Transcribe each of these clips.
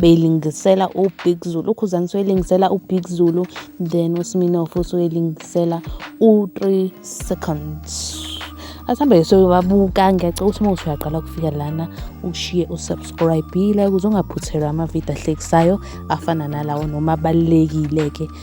beyilingisela ubig zulu ukhuzani soyilingisela ubig zulu then usminof usoyilingisela u-three seconds asihambe soyobabuka ngiyacela ukuthi uma usuyaqala ukufika lana ushiye usubscribile ukuze ungaphuthelwa amavidiyo ahlekisayo afana nalawo noma abalulekile-ke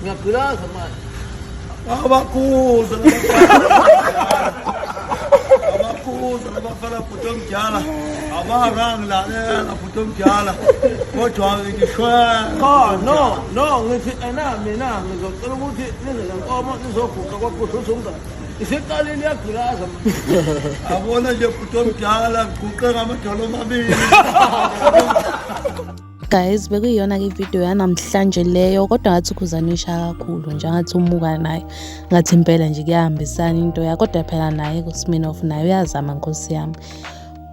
그냥 그라 정말 Abakuza abakuza abafana bhuti omdala abarang lalela bhuti omdala kodwa ngishwe Cha no no ngithi ena mina ngizocela ukuthi nize lenkomo nizoguqa kwakuhle usumngane. Isiqalile iyagulaza manje. abona nje bhuti omdala ngiguqe ngamadolo omabili guys bekuyiyona-ke ividiyo yanamhlanje leyo kodwa ngathi ukhuzane isha kakhulu nje angathi umuka naye ngathi impela nje kuyahambisana into ya kodwa phela naye kusminof naye uyazama nkosi yami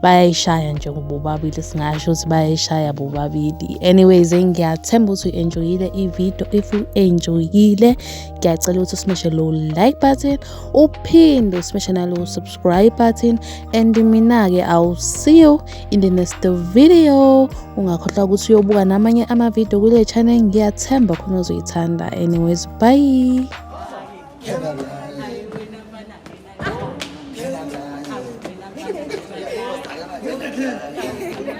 bayayishaya nje kubobabili singasho ukuthi bayayishaya bobabili anyways ngiyathemba ukuthi u-enjoyile ividiyo if u-enjoyile ngiyacela ukuthi usimeshe low like button uphinde usimeshe nalow subscribe button and mina-ke i'll see you in the next video ungakhohlwa ukuthi uyobuka namanye amavidiyo kule channel ngiyathemba khona uzoyithanda anyways bye